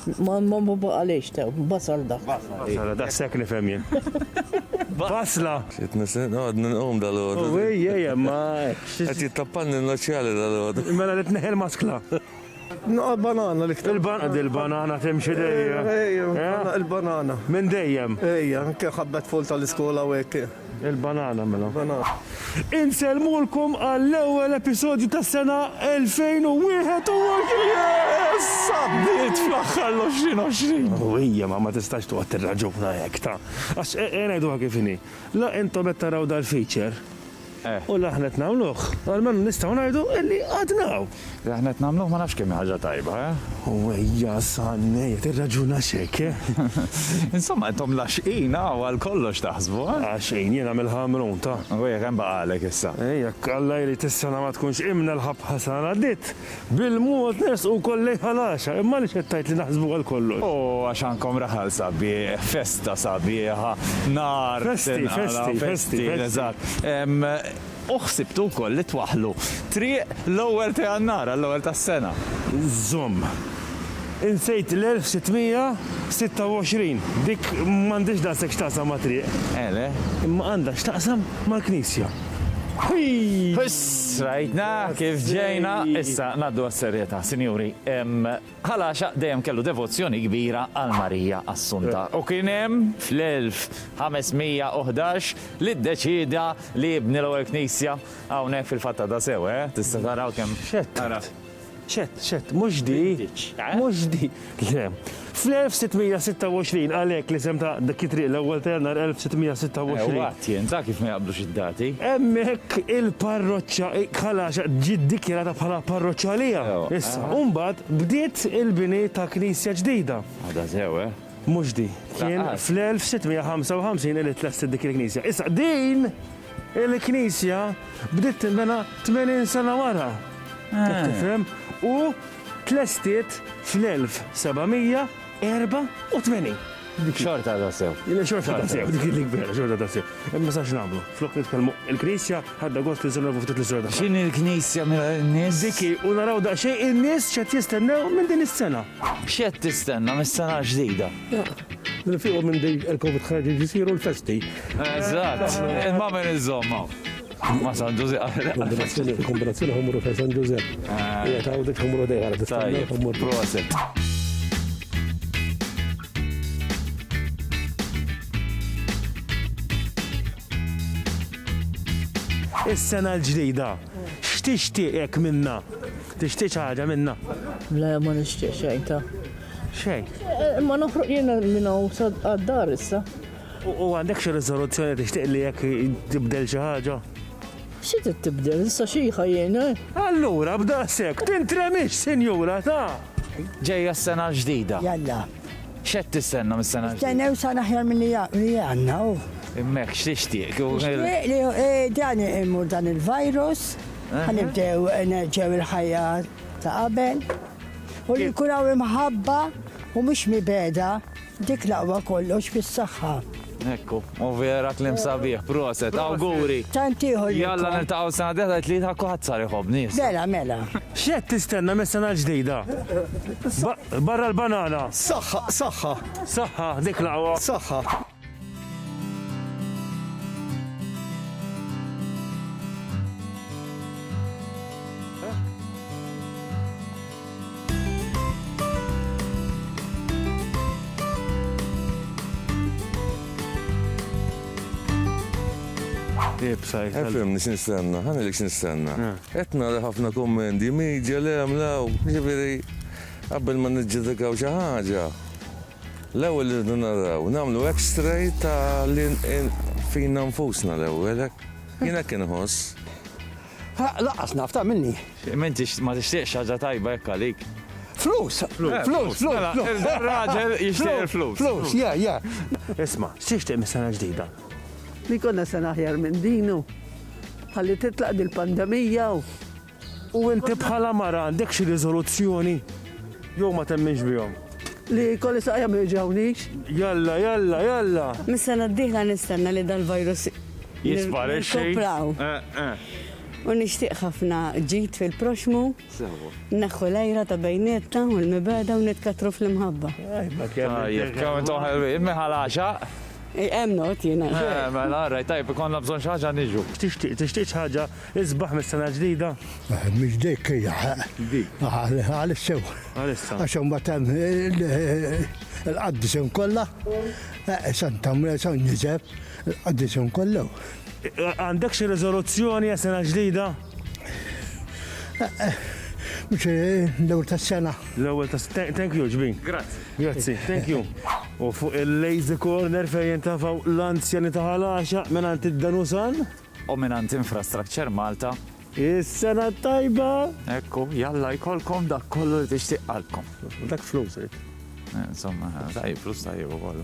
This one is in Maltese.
Ma ma ma baqalix ta' basal dak. Basal, da' sekk nifhem jien. Basla! Xit nisen, għad ninqum dal-għod. U għej, għej, ma. Għad jittappanni n-noċjali dal-għod. Mela li t-neħel maskla. Naqqa banana li ktar. Il-banana timxi dejjem. Ejja, il-banana. Minn dejjem. Ejja, kien ħabbet full tal-iskola u għek. Il-banana mela. Insellmulkom għall-ewwel episodju tas-sena 2021! Yes! Għaddiet fl-aħħar l-2020! Ħwejjem, ma tistax toqgħod tirraġuna hekk, ta. Għax ngħiduha kif inhi, la intom qed taraw dal-feature u la aħna qed nagħmluh, almenu nistgħu ngħidu illi għadna hawn. Li aħna qed nagħmluh ma nafx kemm hi ħaġa tajba, eh? U ejja San, ejja tirraġunax hekk, eh? Insomma, intom l-għaxqin hawn għal kollox taħsbu, eh? Għaxqin, jiena mill-Ħamrun, ta. U jekk hemm baqgħalek issa? Eh, jekk Alla jrid is-sena ma tkunx qimna l-ħabħa sar għaddiet, bil-mod nersqu wkoll lejn Ħal Għaxaq, imma għaliex qed tgħid li naħsbu għal kollox? U għax għandkom raħal sabiħ, festa sabiħa, nar tinqala'. Festi, festi, festi, festi. Eżatt. U ħsibtu wkoll li twaħħlu triq l-ewwel ta' Jannar għall-ewwel tas-sena? Żomm. Insejt l-1626. Dik m'għandhiex daqshekk x'taqsam ma' triq. Għele? Imma għandha x'taqsam mal-Knisja. Ħiiiss! Rajtna kif ġejna! Issa, ngħaddu għas-serjetà, sinjuri. Ħal Għaxaq dejjem kellu devozzjoni kbira għal Marija Assunta u kien hemm fl-1511 li ddeċieda li jibni l-ewwel knisja hawnhekk fil-fatt għadha sew, eh? Tista' tara hawn kemm. X'għedt? Ara. X'għedt? X'għedt? Mhux di? M'għiditx, eh? Mhux di. Le. Fl-1626 għalhekk l-isem ta' dik it-triq l-ewwel ta' Jannar 1626. Ewwa. Tjent, ara kif ma jaqblux id-dati! Hemmhekk il-parroċċa Kalaxa ġiet dikjarata bħala parroċċa għalija. Issa, u mbagħad bdiet il-bini ta' knisja ġdida. Għadha sew, eh? Mhux di. Kien fl-1655 li tlestet dik il-knisja. Issa, din il-knisja bdiet tinbena 80 sena wara. Qed tifhem? U tlestiet fl-1700. 84. Xorta ta' sew. Xorta ta' sew, dik li kbira, xorta ta' sew. Imma sax nagħmlu, flok nitkellmu il-Knisja ħadda gost li żurna ftit l-istorja ta' X'inhi l-Knisja minn nies? Diki u naraw daqsxejn in-nies x'qed jistennew minn din is-sena. X'qed tistenna mis-sena l-ġdida? Li nfiequ minn din il-Covid ħarġ jiġu jsiru l-festi. Eżatt, imma min iżomm hawn? Ma' San Ġużepp. Kombinazzjoni ħamru fejn San Ġużepp qiegħed hawn u dik ħamru dejja ara tista' tagħmel. Proset. Is-sena l-ġdida, x'tixtieq minnha? Tixtieq xi ħaġa minnha? Le, ma nixtieq xejn ta'. Xejn? Ma noħroġ jiena minn hawn għad-dar issa. U għandek xi riżoluzzjoni tixtieq li jekk tibdel xi ħaġa? Xi trid tibdel, issa xiħa jien, eh? Allura b'daqshekk tintremix, sinjura, ta! Ġejja s-sena l-ġdida. Jalla. X'qed tistenna mis-sena l-ġdida? Nistennew sena aħjar milli għandna, oh. Imma hekk x'tixtieq? Nixtieq li eh, dan imur dan il-virus, ħanibdew eh, nerġgħu il-ħajja ta' qabel, u li nkun hawn imħabba u mhux mibeda. Dik l-aqwa kollox fis-saħħa. Ekku, u vera klim sabiħ, proset, awguri. Tant ieħor. Jalla niltaqgħu sena deħla li tlid ħakku ħadd sar iħobni. Mela, mela. X'qed tistenna mis-sena l-ġdida? Barra l-banana. Saħħa, saħħa. Saħħa, dik laqwa. Saħħa. Ifhimni x'nistenna, ħa ngħidlek x'nistenna. Qed nara ħafna kummendi, media, le hemm, le hawn, jiġifieri qabel ma niġġudikaw xi ħaġa, l-ewwel irridu naraw, nagħmlu x-ray ta' fina nfusna l-ewwel hekk. Jien hekk inħoss. Ha, laqqas naf, ta' minni. M'intix ma tixtieqx ħaġa tajba hekk għalik? Flus! Flus, flus, mela, flus! il- dan raġel jixtieq il-flus. Flus, yeah, yeah. Isma', x'tixtieq mis-sena ġdida? Li jkollna sena aħjar minn din u ħalli titlaq dil-pandemija u. U inti bħala mara għandek xi riżoluzzjoni? Jew ma temminx bihom? Li kolli saqja ma jġawnix. Jalla, jalla, jalla. Mis-sena d-dieħla nistenna li dal-virus jisparixxi. Eh, eh. U nixtieq ħafna ġid fil-proxmu. Naħħu lejra ta' bejnietna u l-mibeda u nitkatru fl-imħabba. Tajjeb, kemm intom ħelwin, miħal għaxa. Hemm not jiena. Eh, mela, rajt tajb ikonna bżonn xi ħaġa niġu. Tixtieq, tixtieq xi ħaġa Isbaħ mis-sena l-ġdida? Mhix dik hija. Dik. Għalissa. Għalissa. Għax imbagħad hemm il-qaddisem kollha, Santa Mre, San Ġiżef, il-qaddisem kollha. Għandek xi riżoluzzjoni għas sena ġdida? Mhux l-ewwel tas-sena. L-ewwel tas-sena. Thank you, ġbin. Grazzi. Grazzi, thank you. U fuq il-lazy corner fejn jintafaw l-anzjani ta' ħalaxa minn għand id-danusan. O minant Infrastructure Malta. Is-sena t-tajba! Hekk hu, jalla jkollkom dak kollu li tixtieq qalbkom. Dak flus, int. Insomma, tajjeb, flus tajjeb u kollu.